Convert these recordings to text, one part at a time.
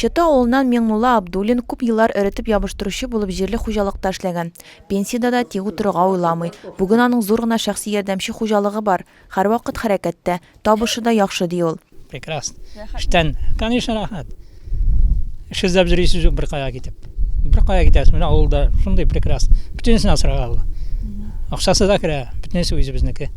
Чыты авылыннан Миңнулла Абдуллин күп еллар эретеп ябыштыручы булып җирле хуҗалыкта эшләгән. Пенсиядә дә тик утырырга уйламый. Бүген аның зур гына шәхси ярдәмче хуҗалыгы бар. Һәрвакыт хәрәкәттә, табышы да яхшы, ди ул. Прекрасно. Эштән, конечно, рәхәт. Эш эзләп йөрисез юк беркая китеп. Беркая китәсез, менә авылда шундый прекрасно. Бөтенесен асрарга була. Акчасы да керә, бөтенесе үзебезнеке.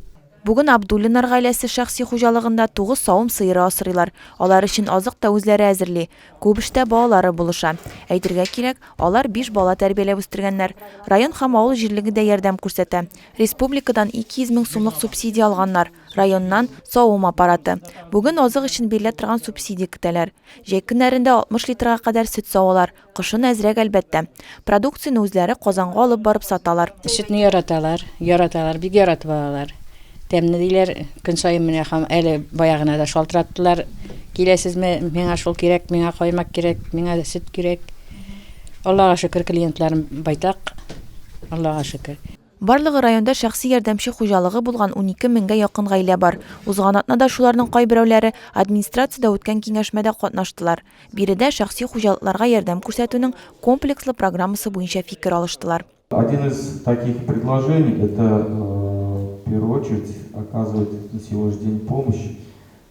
Бүген Абдуллиннар гаиләсе шәхси хуҗалыгында тугыз савым сыеры асрыйлар. Алар өчен азык та үзләре әзерли. Күп эштә балалары булыша. Әйтергә кирәк, алар биш бала тәрбияләп үстергәннәр. Район һәм авыл җирлеге дә ярдәм күрсәтә. Республикадан 200 мең сумлык субсидия алганнар, районнан, савым аппараты. Бүген азык өчен бирелә торган субсидия көтәләр. Җәй көннәрендә 60 литрга кадәр сөт савалар, Кышын әзрәк, әлбәттә. Продукцияне үзләре Казанга алып барып саталар. Сөтне яраталар, яраталар, бик яратып алалар. Тәмле диләр. Көн саен менә хам, әле бая гына да шалтыраттылар. Киләсезме, миңа шул кирәк, миңа каймак кирәк, миңа сөт кирәк. Аллага шөкер, клиентларым байтак. Аллага шөкер. Барлыгы районда шәхси ярдәмче хуҗалыгы булган унике меңгә якын гаилә бар. Узган атнада шуларның кайберәүләре администрациядә үткән киңәшмәдә катнаштылар. Биредә шәхси хуҗалыкларга ярдәм күрсәтүнең комплекслы программасы буенча фикер алыштылар. Один из таких предложений, это, в первую очередь, оказывать на сегодняшний день помощь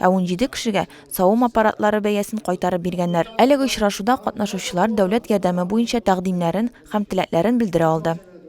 Ә унҗиде кешегә савым аппаратлары бәясен кайтарып биргәннәр. Әлеге очрашуда катнашучылар дәүләт ярдәме буенча тәкъдимнәрен һәм теләкләрен белдерә алды.